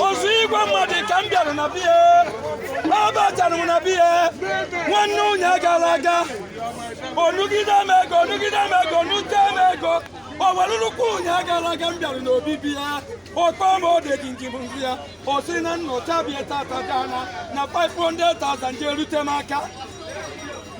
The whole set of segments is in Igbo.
ozu igwe mmadụ ka m bịara na be ya abatara m na be ya nwanne ụnya gara aga o nugide m ego o nugide m ego o nute m ego o were nnukwu ụnya gara aga m bịara n'obibi ya ọkpọ m ode gingim nzi ya ọ sị na m nọcha be ya tata gana na 500,000 ga-erute m aka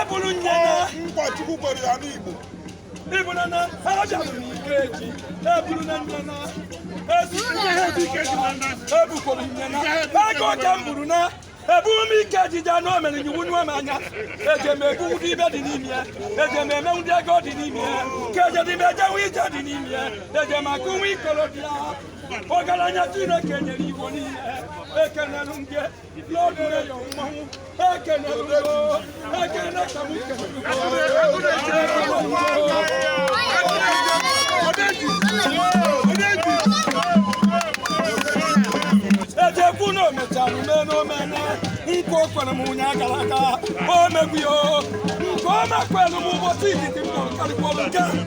ebulu nye nkwa chukwu kwere ya n'igbo ibụna na abịalụ m ikeji ebulu na nne na ebukwuru nne na ego oke m buru na ebu m ikeji je na o mere nyiwu nwe m anya eje m egbu ụdị ibe dị n'ime ya eje m eme ụdị ego dị n'ime ya ka ejedime ejenwe ije dị n'ime ya eje m akụ nwa ikolobịa ọgaranya chineke nyere igbo niile ekenelu m gị ejekwu na o mechara ume n'omene nke o kwere m ụnya gara aga o megbuyo nke o mekwere m ụbọchị izizi m nọrọ karịkwọrọ nke a.